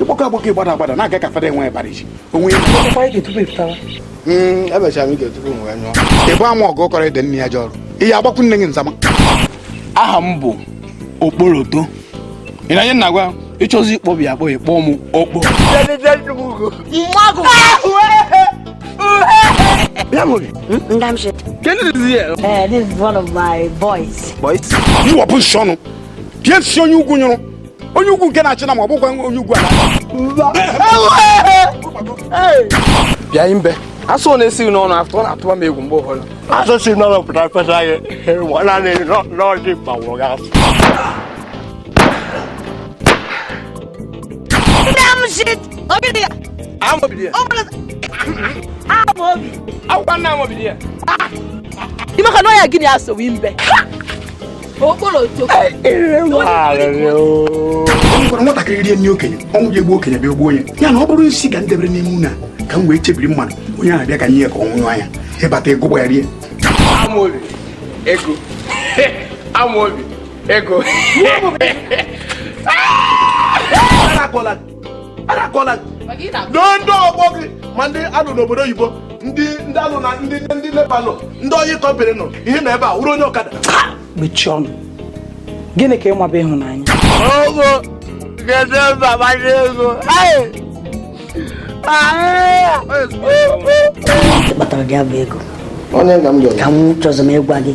ịgbakọ agbakọ ịgbada agbada na-aga ka fada enwe ịbara isi onwe hmm, emechara m ike tupu m wee nyụọ ebe a ma ọgụ kọrọ ede nne ya ji ọrụ ihe agbakwu nne gị nzama aha m bụ Okporoto ị na-anụ ihe m na-agwa ị chọzie ịkpọbi ya akpọbi kpọọ m Okpo Ị wepụ nsị ọnụ bịa nsị onye ugwu nyụrụ onye ugwu nke na-achị nama ọ bụkwa onye ugwu bịa imbe asụ ọ na-esi gị n'ọnụ afọ ọ na-atụba m egwu mgbe ụfọdụ asụ si n'ọnụ pụta fesa gị naanị n'ọjị gbanwụrụ gị asụ Akwụkwọ na Amobi dị ya. Ị maka n'ọya gịnị asọwi mbe gwara nwatakịrị rie nri okenye ọnwụ ji egbu okenye bịa o gbuo onye ya na ọ bụrụ nsi ka m debere n'ime nri a ka m wee chebiri mmadụ onye ahụ bịa ka nye ya ka ọ nwụọ anya ị bata ego gba ya rie Amobi, ego. Amobi, ego. adakwala doo ndị ọgbọ gị ma ndị a nụ n'obodo oyibo ndị ndị a nụ na ndị ndị Lebanon ndị oil company ị nọ ihe na ebe a wụrụ onye ọkada mechie ọnụ gịnị ka ị ma bụ ịhụnanya ogo gede baba n'ego kpatara gị abụ ego onye ka m ga-eme ka m chọrọ m ịgwa gị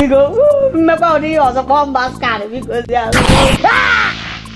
Biko, m mekwaa ụdị ihe ọzọ kpọọ m bastard bikozianụ.